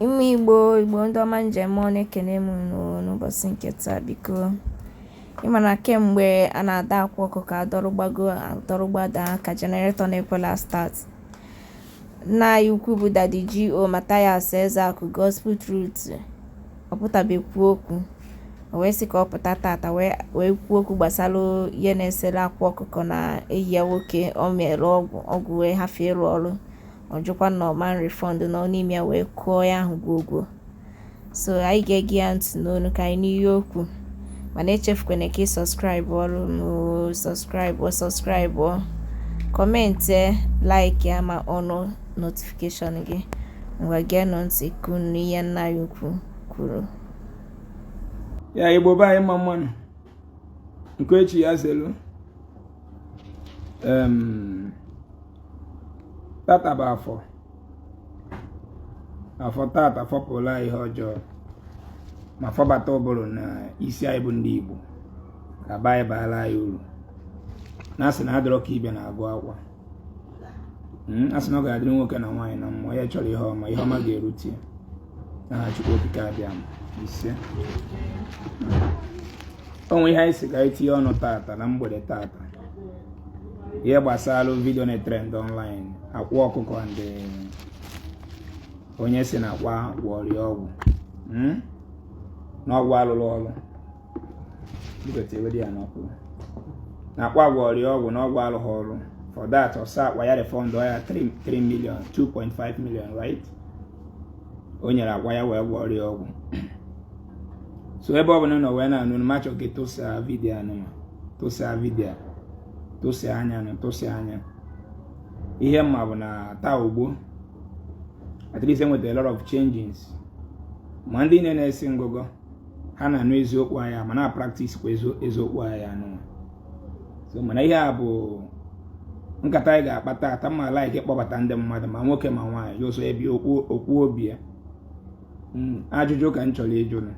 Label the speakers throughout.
Speaker 1: Ụmụ Igbo, Igbo ndị ọma m ji eme ọnụ ekene m ụnụ n'ụbọsị nke taa biko. Ị ma na kemgbe a na-adọ Akwa Ọkụkọ a dọrọ gbago a dọrọ gbada ka jeneretọ na-ekwela start. Nna anyị ukwu bụ Daddy G.O. Mathias Ezeaku Gospel Truth ọ pụtabe kwuo okwu o wee sị ka ọ pụta tata wee wee kwuo okwu gbasara ihe na-esere Akwa Ọkụkọ na enyi ya nwoke o meere ọgwụ ọgwụ wee hafụ ịrụ ọrụ ọ jụkwa na ọ ma refund na n'ime ya wee kụọ ya ahụ gwogwo so anyị ga-ege ya ntị n'ọnụ ka anyị nụ ihe o kwu mana echefukwana ka ị sọskraịbụọrọ m sọskraịbụ sọskraịbụ kọmentị like ya ma ọnụọ notifikeshọn gị ngwa geenụ ntị ka ụnụ nụ ihe nna anyị ukwu
Speaker 2: kwuru ya Igbo be anyị mma mma nụ nke onye chi ya zelu tata bụ afọ afọ tata fọpụlụ anyị ihe ọjọọ ma fọbata ụbụrụ na isi anyị bụ ndị Igbo ka be anyị baara anyị uru na a sị na adịrọ ka ibe na-agụ akwa hmm, a sị na ọ ga-adịrị nwoke na nwaanyị na mmụọ ya chọrọ ihe ọma ihe ọma ga-erute ya aha Chukwu Okike Abịama isee o nwe ihe anyị sị ka anyị tinye ọnụ tata na mgbede tata ihe gbasara vidio na-atrend online Akwa Ọkụkọ na onye sị na Akwa gwọọrọ ya ọgwụ hmm? na ọgwụ arụrọ ọrụ na Akwa gwọọrọ ya ọgwụ na ọgwụ arụghị ọrụ for that ọ sị Akwa ya refund ya 3 million 2.5 million right o nyere Akwa ya wee gwọọrọ ya ọgwụ so ebe ọ bụla ị nọ wee na-anụ ọnụ m achọ ka ị tụsa vidio a nụ ma tụsa vidio tụsanụ ya na tụsanụ ya ihe m ma bụ na taa ugbu a at least e nweta a lot of changes ma ndị niine na-esi ngụgọ ha na-anụ eziokwu anyị ma na-apraktis kwa eziokwu anyị anụ so mana ihe a bụ nkata anyị ga-akpa taata m ma laik ịkpọbata ndị mmadụ ma nwoke ma nwaanyị onye ọ sọ ọ bịa kwuo obi ya hmm, ajụjụ ka m chọrọ ịjụ ụnụ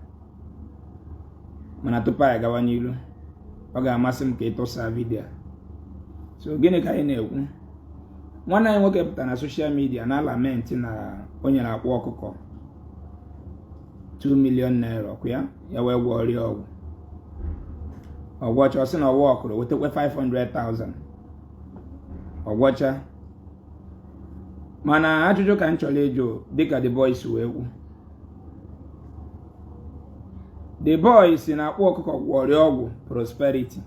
Speaker 2: mana tupu anyị gawa n'iru ọ ga-amasị m ka ị tụsaa vidiyo so gịnị ka anyị na-ekwu nwanne anyị nwoke pụtara na soshal midia na-alamenti na o nyere Akwa Ọkụkọ 2 million naira ọ kwụ ya ya wee gwọọrọ ya ọgwụ ọ gwọcha ọ sị na ọwa ọkụrụ wetakwa 500,000 ọ gwọcha mana ajụjụ ka m chọrọ ịjụ dịka the boy si wee kwuo the boy sị na Akwa Ọkụkọ gwọọrọ ya ọgwụ prosperity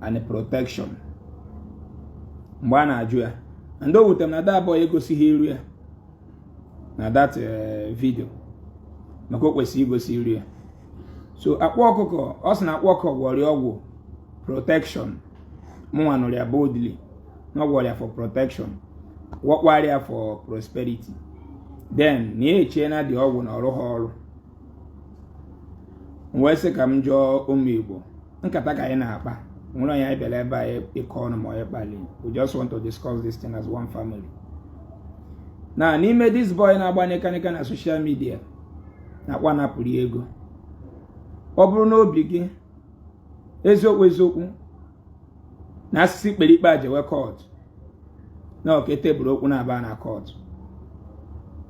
Speaker 2: and protection mgbe a na-ajụ ya and o wute m na the boy egosighị iru ya na that eh, video maka o kwesịrị igosi iru ya so Akwa Ọkụkọ ọ sị na Akwa Ọkụkọ gwọrọ ya ọgwụ protection mụnwa nụrụ ya boldly na ọ gwọrọ ya for protection gwọkwara ya for prosperity then na ya echee na the ọgwụ na ọ rụha ọrụ m wee sị ka m jụọ ụmụ Igbo nkata ka anyị na-akpa o nwerọ onye anyị bịara ebe a ịkọ ọnụ ma ọ bụ ịkpali we just want to discuss this thing as one family na n'ime this boy na-agba nịkanịka na social media na Akwa napụrụ ya ego ọ bụrụ n'obi gị eziokwu eziokwu na a sị sị e kpere ikpe a jewe court na ọ ka e table okwu na-aba na court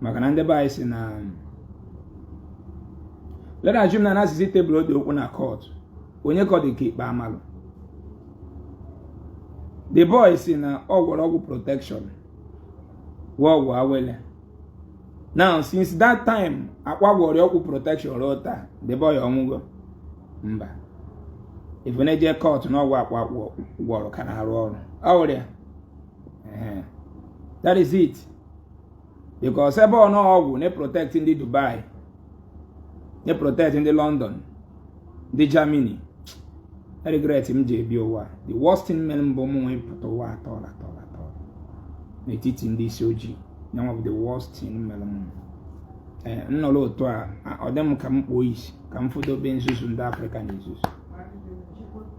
Speaker 2: maka na ndị be anyị si na let's assume na a sị sị table ụdị okwu a na court onye ka ọ dị ka ikpe a malụ the boy si na ọ gwọrọ ọgwụ protection gwọọ ọgwụ awele now since that time Akwa gwọrọ ọgwụ protection ruo taa the boy ọ nwụgo mba if ị na-eje court na ọgwụ Akwa gwọrọ ka na-arụ ọrụ ọrịa that is it because ebe ọ na ọgwụ na-protect ndị Dubai na-protect ndị London ndị Germany regret m ji ebi ụwa the worst thing mere m bụ m wee pụta ụwa a tọ n'etiti ndị isi ojii nyanwa bụ the worst thing mere m eh, nnọrọ otu a ọ dị m ka m kpuo isi ka m fụdobe nzuzu ndị Afrịka na-ezuzu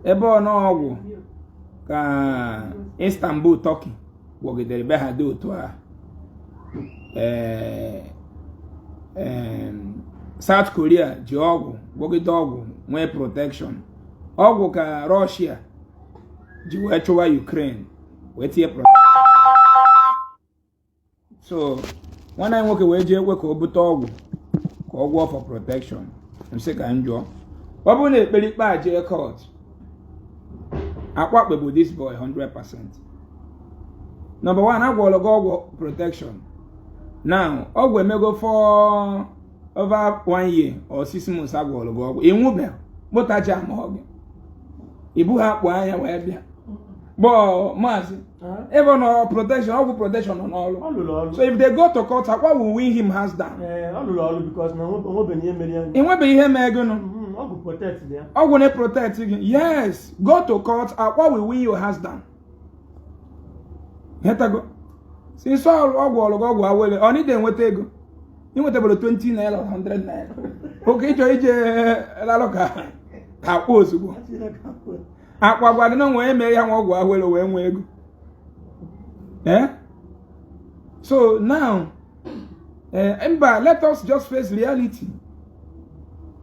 Speaker 2: ebe ọ na ọgwụ ka Istanbul Turkey gwọgidere be ha dị otu a South Korea ji ọgwụ gwọgide ọgwụ nwee protection ọgwụ ka Russia ji wee chụwa Ukraine wee tinye protection so nwanne anyị nwoke wee jee ekwe ka o bute ọgwụ ka ọ gwọọ for protection m sị ka m jụọ ọ bụrụ na e kpere ikpe a jee court Akwa ekpegbuo this boy 100 percent number one a gwọrọ gị ọgwụ protection now ọgwụ emego for over one year or six months a gwọrọ gị ọgwụ ị nwụbeghị kpụtacha ma ọ gị ibu ha akpụ anya wee bịa gbọọ maazị ebe ọ nọ protection ọgwụ protection nọ n'ọrụ so if they go to court Akwa will win him hands down enwebeghị ihe mee gị na ọgwụ na-protect gị yes go to court Akwa will win you hands down ị ghọtago since ọ gwọọlụ gị ọgwụ awele ọ na ị dị enweta ego i nwetaberọ 20 naira 100 naira oke ịchọ ije lalụ ka akpọ ozugbo akwa gwa gị na onwe eme ya nwa ọgwụ awele wee nwee ego eh? so now eh, mba let us just face reality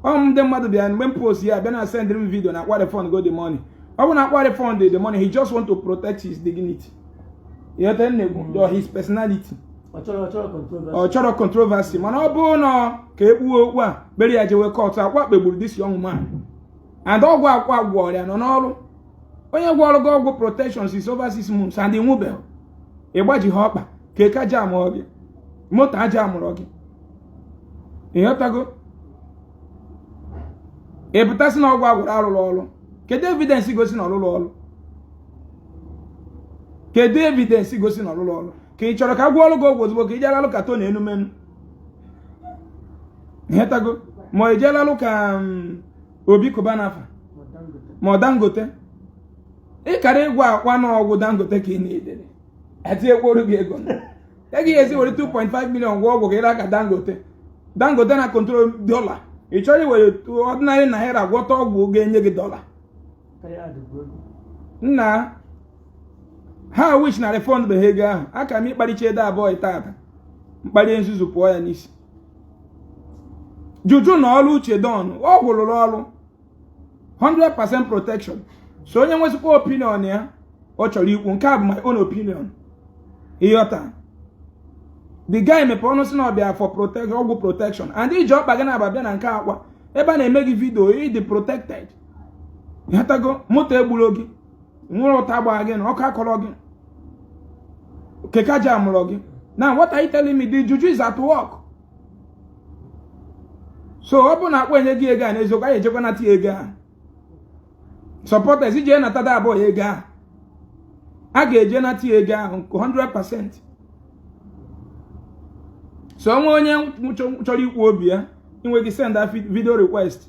Speaker 2: ọm ndị mmadụ bịara mgbe m post ya bịa na send m video na akwa refund go the money ọ bụ na akwa refund the money he just want to protect his dignity ịghọta maybe his personality ọ chọrọ controversy mana ọ bụrụ na ka e kpee okwu a kpere ya jewe court akwa kpegburu this young man and ọgwụ akwa gwọrọ ya nọ n'ọrụ onye gwọrọ gị ọgwụ protection since over six months and ị nwụbeghị ị gbajihọ ọkpa keke ajamụrọ gị moto ajamụrọ gị ịghọtago ị pụta sị na ọgwụ a gwọrọ arụrọ ọrụ kedu evidence gosi na ọ rụrọ ọrụ kedu evidence gosi na ọ rụrọ ọrụ ka ị chọrọ ka a gwọọrọ gị ọgwụ ozugbo ka ị jee lalụ ka Tony Elumelu ghọtago ma ị jee lalụ ka mm, Obi Cubana fa ma ọ dangote ị kara ịgwa akwa na ọgwụ dangote ka ị na-edere etinyekworu gị ego e gị esi were 2.5 million gwọ ọgwụ ka ị ra ka dangote dangote na control dollar ị chọrọ iwere ordinary naira gwọta ọgwụ ga-enye gị dollar nna how I wish na refund beghị ego ahụ aka m ịkparịcha the boy tata mkparị nzuzu pụọ ya n'isi juju nọ ọrụ uche don ọgwụ rụrụ ọrụ 100% protection so onye nwezikwa opinion ya ọ chọrọ ikwu nke a bụ my own opinion ịghọta the guy mepee ọnụ si na ọ bịa for protection ọgwụ protection and i ji ọkpa gị naabọ bịa na nke akwa ebe a na-eme gị video ị dị protected ịghọtago moto egburọ gị nwere ụta gbaa gị na ọkụ akọrọ gị keke ajamụrọ gị now what are you telling me the juju is at work so ọ bụ na akwa enye gị ego a n'eziokwu anyị ejekwa nata ego a supporters eje nata the boy ego ahụ a ga-eje nata ya ego ahụ nke 100% so o nwe onye chọrọ ikwu obi ya i nwe ike send video request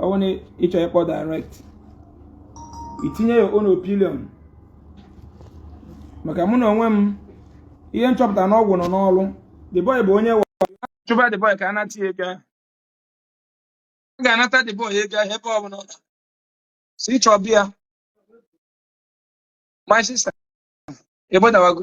Speaker 2: ọ bụrụ na ị chọọ ịkpọ direct itinye your own opinion maka mụ na onwe m ihe m chọpụta na ọgwụ nọ n'ọrụ the boy bụ onye chụba the boy ka a nata ya ego a ga-anata the boy ego ahụ ebe ọ bụla ọ si chọọ bịa my sister ebodawago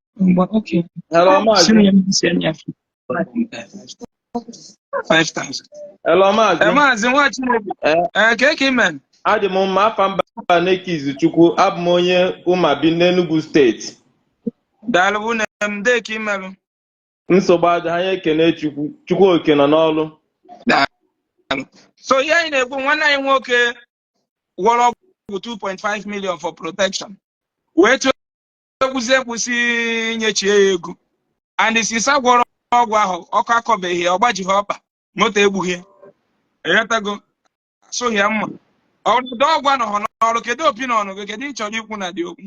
Speaker 3: Ngwa, okay. Hello, Maazị. Sị
Speaker 2: na ya mbisi enyi ya. 5,000. Hello,
Speaker 3: Eh, Maazị. Maazị nwa Chineke.
Speaker 2: Eh. Eh, kee ka i me. Adị m mma afa
Speaker 3: m bụ Aneke Izuchukwu. Abụ m onye Umuabi n'Enugu steeti.
Speaker 2: Daalụ nna m ndee ka i melụ.
Speaker 3: Nsogbu adịghị anyị ekene Chukwu. Chukwu oke nọ
Speaker 2: n'ọlụ. So ihe anyị na-ekwu nwanne anyị nwoke gwọrọ ọgwụ 2.5 million for protection. Wee tụọ ekwuzi ekwu sị nyechie ya ego and since ọ gwọrọ ọgwụ ahụ ọkụ akọbeghị ya ọ gbajighị ọkpa
Speaker 4: moto egbughị ya ị ghọtago asụghị ya mma ọdụdọ ọgwụ anọghọ n'ọrụ kedu opinion gị kedu ihe ị chọrọ ikwu na the okwu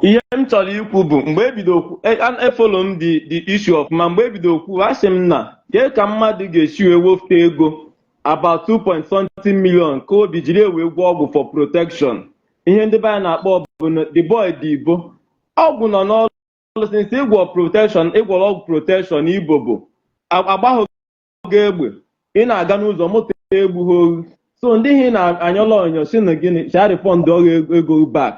Speaker 3: ihe m chọrọ ikwu bụ mgbe ebido okwu e- an- efollow m the the issue ọfụma mgbe ebido okwu asị m na kee ka mmadụ ga-esi wee wefute ego about 2.something million ka ọ bụ jiri wee gwọọ ọgwụ for protection ihe ndị be anyị na-akpọ bụ na the boy dị ibo ọgwụ nọ n'ọrụ since ị gwọ protection ị gwọrọ ọgwụ protection ebe ọ bụ a- agbahụ gị egbe ị na-aga n'ụzọ moto egbuhọ ghụ so ndị ihe ị na-anyọla ọnyọ sị na gị sị ha refund ghị ego back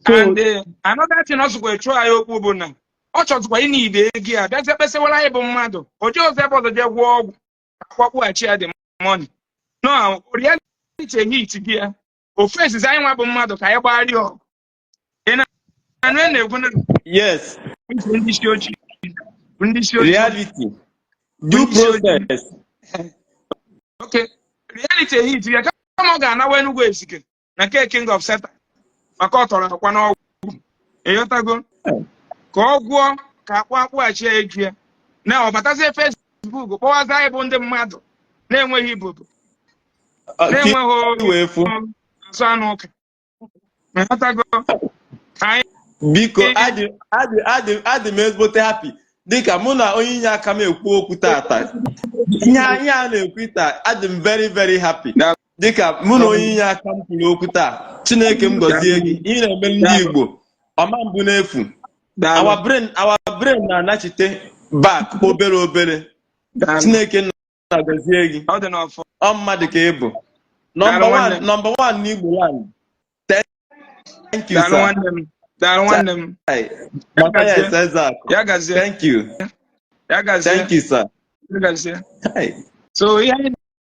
Speaker 3: so and eh, another thing ọzọkwa
Speaker 4: chụọ anyị okwu bụ na ọ chọzikwa ịna ide ego ya bịazie kpesịwara anyị bụ mmadụ o jee ụzọ ebe ọzọ jee gwọọ ọgwụ a kwụọ akwụghachi ya the money na reality ehitie ya o facezi anyị nwa bụ mmadụ ka anyị gbagharị ọgụ ị na-anụ ihe m na-ekwu na yes
Speaker 3: ndị
Speaker 4: isi ojii ndị isi ojii
Speaker 3: reality due
Speaker 4: process okay reality hit ya kama ọ ga-anawa Enugu Ezike na nke King of Satan maka ọ tọrọ Akwa n'ọgwụ ịghọtago ka ọ gwọọ ka a kpụ akpụghachi ya ego ya na ọ batazie Facebook kpọwazi anyị bụ ndị mmadụ na-enweghị ibobo Ah, ka na-enweghị i wee fụ azụ anụ ụka ịghọtago
Speaker 3: anyị biko adị adị adị adị m ezigbote happy dịka mụ na onye inyeaka m ekwu okwu tata ihe a ihe a na-ekwu taa adị m very very happy dịka mụ na onye inyeaka m kwuru okwu taa Chineke m gọzie gị ihe ị na-emere ndị Igbo ọ ma abụ n'efu our brain our brain na-anachite back obere obere Chineke nna gọzie gị ọ mmadụ ka ị bụ number one n'Igbo land thank you sir daalụ nwanne m ya gazie thank you ya gazie thank you sir ya gazie so
Speaker 4: ihe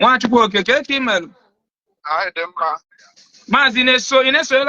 Speaker 4: Nwa Chukwu oke
Speaker 5: kee ka ị mere maazị
Speaker 4: na-eso ị na-esonyela